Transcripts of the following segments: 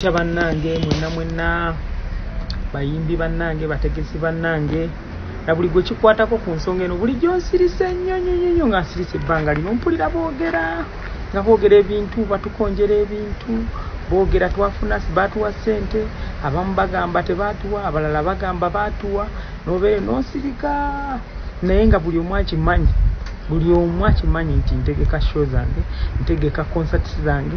kya bannange mwenna mwenna bayimbi bannange bategesi bannange na buli gwe kikwatako ku nsonga eno bulijjo nsirise nnyo nnyo nnyo nnyo nga nsirise ebbanga lino mpulira boogera nga boogera ebintu batukonjera ebintu boogera twafuna baatuwa ssente abamu bagamba tebaatuwa abalala bagamba baatuwa nobeere nosirika naye nga buli omu akimanyi buli omu akimanyi nti ntegeka show zange ntegeka concerts zange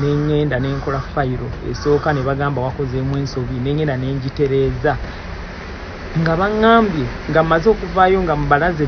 nengenda nenkola fayiro esooka ne bagamba wakozeemu ensobi nengenda nengitereeza nga baŋŋambye nga mmaze okuvaayo nga mubalaze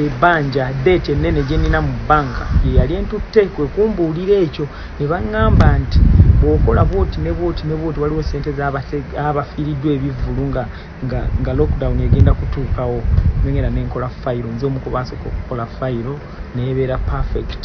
ebbanja e, deeti ennene gye nnina mu bbanka ye yali entutte kwe kumbuulira ekyo ne baŋŋamba nti bw'okola bwoti ne bwoti ne bwoti waliwo ssente z'abafiiriddwa ebivvulu nga nga nga lockdown egenda kutuukawo nengenda nenkola fayiro nze omu ku baasooka okukola fayiro neebeera perfect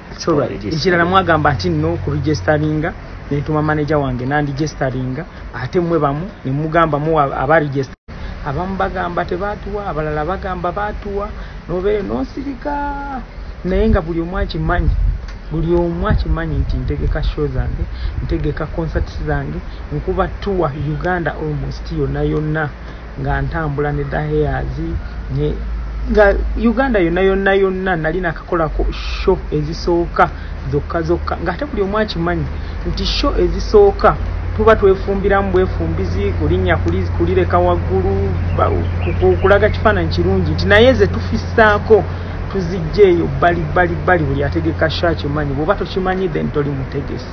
ekirala mwagamba nti no kuregisteringa netuma manaja wange nandigisteringa ate mwe bamu nemugamba mu abaregist abamu bagamba tebatuwa abalala bagamba batuwa nobeere nosirika naye nga buli omu akimanyi buli omu akimanyi nti ntegeka show zange ntegeka concerts zange nkuba tuwa uganda almost yonna yonna nga ntambula ne daheyazi ne nga uganda yonna yonna yonna nali nakakolako sho ezisooka zokka zokka ngaate buli omu akimanyi nti sho ezisooka tuba twefumbiramu bwefumbizi kulinnya kulireka waggulu kulaga kifaananyi kirungi nti naye ze tufisaako tuzijja eyo bbali bbali bbali buli ategeka sho akimanyi bwoba tokimanyi then toli mutegesi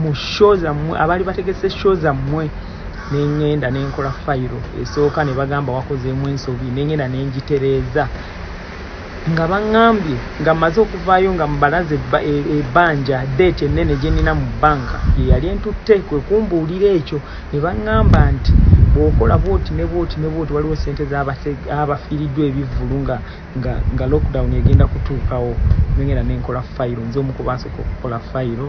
mu show zammwe abaali bategese show zammwe nengenda nenkola fayiro esooka ne bagamba wakozeemu ensobi nengenda nengitereeza nga baŋŋambye nga mmaze okuvaayo nga mbalaze ebbanja e, deeti ennene gye nnina mu bbanka ye yali entutte kwe kumbuulira ekyo ne baŋŋamba nti bw'okola bwoti ne bwoti ne bwoti waliwo ssente z'abafiiriddwa ebivvulu nga nga lockdown egenda kutuukawo nengenda nenkola fayiro nze omu ku baasooka okukola fayiro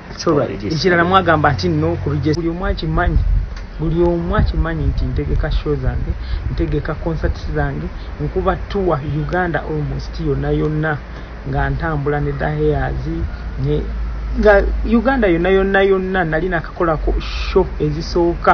ekirala mwagamba nti no buli omu akimanyi buli omu akimanyi nti ntegeka show zange ntegeka concerts zange nkuba tour uganda almost yonna yonna nga ntambula ne daheas ne nga uganda yonna yonna yonna nali nakakolako show ezisooka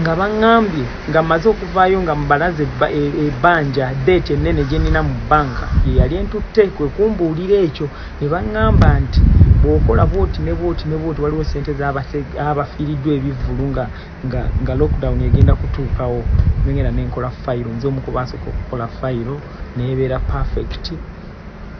nga baŋŋambye nga mmaze okuvaayo nga mbalaze e, ebbanja deeti ennene gye nnina mu bbanka ye yali entutte kwe kumbuulira ekyo ne baŋŋamba nti bw'okola bwoti ne bwoti ne bwoti waliwo ssente z'abafiiriddwa ebivvulu nga nga nga lockdown egenda kutuukawo nengenda ne nkola fayiro nze omu ku baasooka okukola fayiro neebeera perfect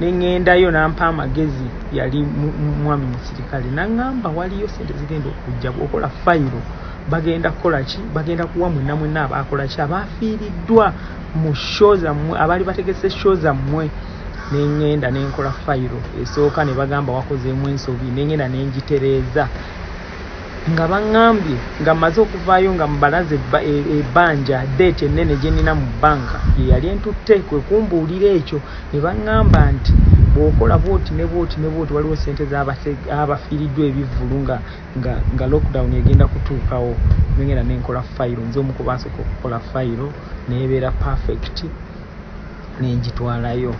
neŋŋendayo nampa amagezi yali mwami musirikale naŋŋamba waliyo sente zigenda okujja bwokola fayiro bagenda kukola ki bagenda kuwa mwena mwena abaakola ki abaafiiriddwa mu sho zammwe abaali bategese sho zammwe neŋŋenda nenkola fayiro esooka ne bagamba wakozeemu ensobi neŋŋenda nengitereeza nga baŋŋambye nga mmaze okuvaayo nga mbalaze e, ebbanja deeti ennene gye nnina mu bbanka ye yali entutte kwe kumbuulira ekyo ne baŋŋamba nti bw'okola bwoti ne bwoti ne bwoti waliwo ssente z'abafiiriddwa ebivvulu nga nga lockdown egenda kutuukawo nengenda ne nkola fayiro nze omu kubaasooka okukola fayiro neebeera perfect ne ngitwalayo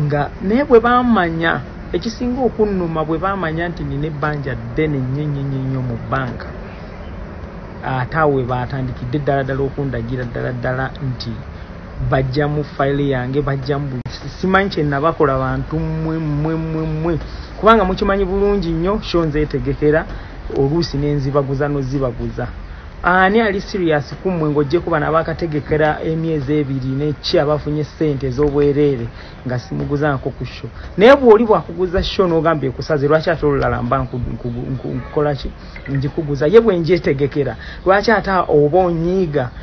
nga naye bwe baamanya ekisinga okunnuma bwe baamanya nti nina ebbanja ddene nnyo ennyo nnyo nnyo mu bbanka ate awo we baatandikidde ddala ddala okundagira ddala ddala nti bajja mu file yange bajja mu simanyi kyenabakola bantu mwe mwe mwe mwe kubanga mukimanyi bulungi nnyo sho nzetegekera oluusi nenzibaguza nozibaguza ani ali serious kumwe ng'ogyeko bano abakategekera emyezi ebiri neki abafunye sente ez'obwereere nga simuguzaako ku sho naye bw'oli bwakuguza sho n'ogamba ekusaze lwaki ate olulala mba nkukolaki ngikuguza ye bwe njetegekera lwaki ate oba onyiiga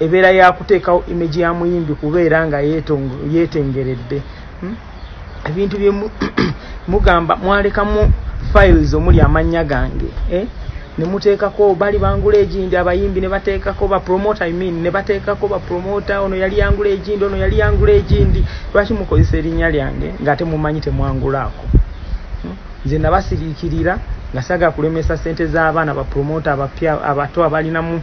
ebeera yakuteekawo image ya muyimbi kubeera nga yetengeredde hmm? ebintu bye mugamba mwalekamu files omuli amannya gange eh? nemuteekako bali bangula egindi abayimbi nebateekako bapromota i mean nebateekako bapromota ono yali yangula egindi ono yali yangula egindi lwaki mukozesa erinnya lyange nga ate mumanyi temwangulaako hmm? nze nabasiriikirira nga saga kulemesa sente z'abaana bapromota abapya abato abalinamu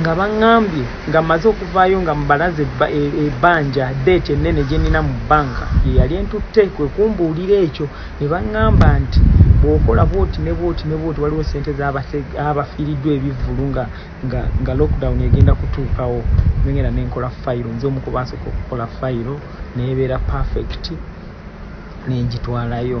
nga baŋŋambye nga mmaze okuvaayo nga mbalaze e, ebbanja deeti ennene gye nnina mu bbanka ye yali entutte kwe kumbuulira ekyo ne baŋŋamba nti bw'okola bwoti ne bwoti ne bwoti waliwo ssente z'abafiiriddwa ebivvulu nga nga lockdown egenda kutuukawo nengenda ne nkola fayiro nze omu kubaasooka okukola fayiro neebeera perfect ne ngitwalayo